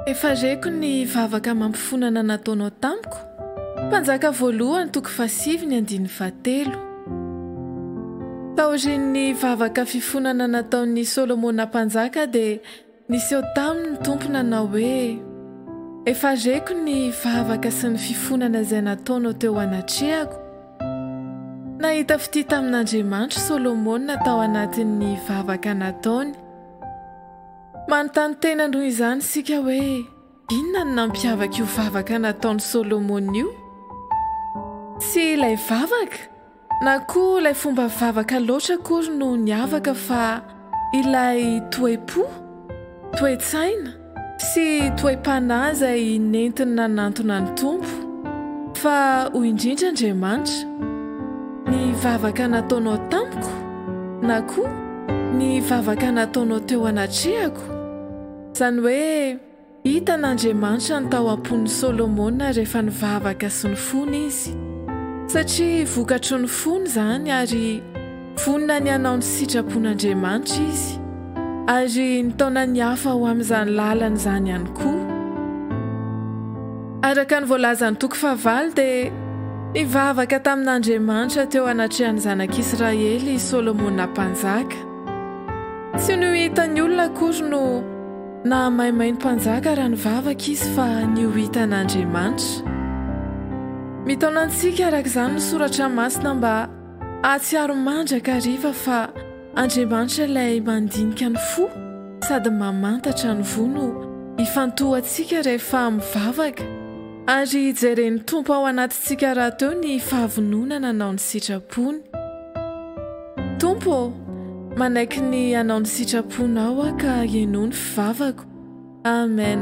Efa reko ny vavaka amam-pifonana nataonao tamiko, Mpanjaka voalohany toko fahasivy ny andininy fahatelo. Taorian'ny vavaka fifonana nataon'i Solomona Mpanjaka dia niseho taminy ny Tompo nanao hoe, Efa reko ny vavaka sy ny fifonana izay nataonao teo anatrehako, Nahita fitia tamin'Andriamanitro Solomona tao anatin'ny vavaka nataony. Manontany tena noho izany isika hoe inona no nampiavaka io vavaka nataon'i Solomona io? Tsy ilay vavaka na koa ilay fomba vavaka loatra akory no niavaka fa Ilay toe-po, toe-tsaina sy toe-panahy izay nentiny nanantona ny Tompo, fa hoy indrindra Andriamanitra, Ny vavaka nataonao tamiko, na koa, Ny vavaka nataonao teo anatrehako, izany hoe, Hitan'Andriamanitra ny tao am-pon'i Solomona rehefa nivavaka sy nifona izy, satria vokatry ny fony izany ary vonona ny hanao ny sitrapon'Andriamanitra izy, ary nitaona ny hafa ho amin'izany lalana izany ihany koa. Araka ny voalazan'ny toko fahavalo dia nivavaka tamin'Andriamanitra teo anatrehan'ny zanak'Israely i Solomona Mpanjaka. Tsy ny ho hitan'ny olona akory no. Nahamaimay ny mpanjaka raha nivavaka izy fa ny ho hitan'Andriamanitra. Mitaona antsika araka izany ny soratra masina mba hahatsiaro mandrakariva fa Andriamanitra ilay mandinika ny fo sady mamantatra ny voa no ifantohantsika rehefa mivavaka ary jeren'ny Tompo ao anatintsika rahateo ny fahavononana hanao ny sitrapony. Tompo ô, manaiky ny hanao ny sitraponao aho ka henoa ny fivavako. Amen.